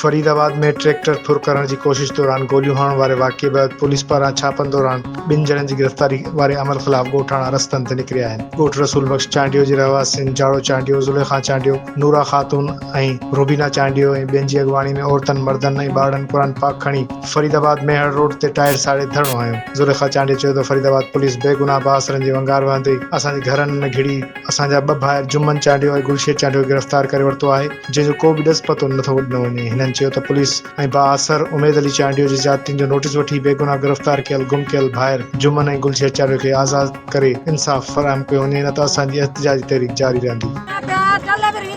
فريد آباد ۾ ٽريڪٽر ڦر ڪرڻ جي ڪوشش دوران گوليون هڻڻ واري واقعي بعد پوليس پاران ڇاپن دوران ٻن ڄڻن جي گرفتاري واري عمل خلاف ڳوٺاڻا رستن تي نڪريا آهن ڳوٺ رسول بخش چانڊيو جي رهواسين جاڙو چانڊيو زليخا چانڊيو نورا خاتون ۽ روبينا چانڊيو ۽ ٻين جي اڳواڻي ۾ عورتن، مردن ۽ ٻارڙن قرآن پاڪ کڻي فريد آباد ميهڙ روڊ تي ٽائر ساڙي ڌرڻو هنيو. زليخا چانڊيو چيو ته فريد آباد پوليس بي گناهه بااثرن جي ونگار وهندي اسان جي گهرن ۾ گهڙي اسان جا ٻه ڀائر جمن چانڊيو ۽ گلشير چانڊيو کي گرفتار ڪري ورتو آهي جنهن جو ڪو به ڏس پتو نه ٿو ڏنو وڃي. هنن چيو ته پوليس ۽ بااثر اميد علي چانڊيو جي زيادتين جو نوٽيس وٺي بي گناهه گرفتار ڪيل گم ڪيل ڀائر جمن ۽ گلشير چانڊيو کي آزاد ڪري انصاف فراهم ڪيو وڃي نه ته اسان جي احتجاجي تحريڪ جاري رهندي.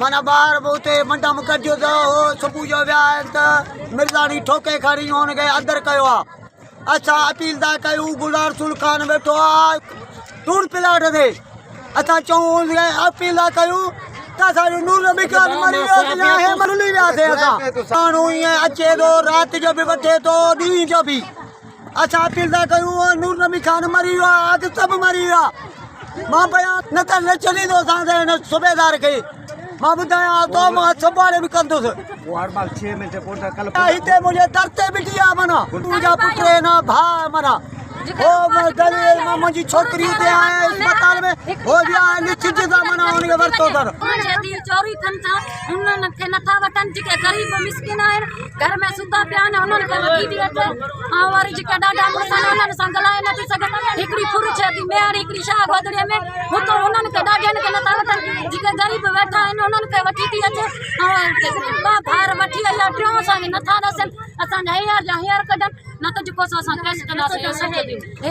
معنيٰ ٻار به اتي منڊا م گڏجيو ته هو صبح جو ويا آهن ته مرزاڻي ٺوڪي کان ريو هن کي اندر ڪيو آهي اسان اپيل ٿا ڪيون غلام رسول خان ويٺو آهي ٽوڙ پلاٽ تي اسان چون هن کي اپيل ٿا ڪيون ته اسان جو نور نبي خان مري ويو ته يا هي مرلي ويا سي اسان ماڻهو ائين اچي ٿو رات جو به وٺي ٿو ڏينهن جو به اسان اپيل ٿا ڪيون اهو نور نبي خان مري ويو آهي اڳ سڀ مري ويا مان بيان نه ته نه ڇڏيندو اسان کي هن صوبيدار کي مان ٻڌايان ها تو مان سنڀالي به ڪندس هتي منهنجي در تي بيٺي آهي منا تنهنجا پٽ آهن ڀاء منا منهنجي ڇوڪري هتي آهي اسپتال ۾ هو ويا آهي نچ جي منا هن کي ورتو اٿن انهن کي نٿا وٺن جيڪي غريب مسڪين آهن گهر ۾ ستا پيا آهن انهن کي وٺي ٿي اچي ۽ وري جيڪي ڏاڍا مڙس آهن انهن سان ڳالهائي نٿي سگهن هڪڙي ڦر ٿئي ٿي ميهڙ هڪڙي شاهه گودڙي ۾ هتو انهن کي ڏاڍين کي نٿا وٺن جيڪي غريب ويٺا آهن انهن کي وٺي ٿي اچي ۽ ٻه ڀائر وٺي ايا ٽيون اسان کي نٿا ڏسن اسان جا هينئر جا هينئر ڪڍن نه ته جيڪو سو اسان ڪيس ڪنداسين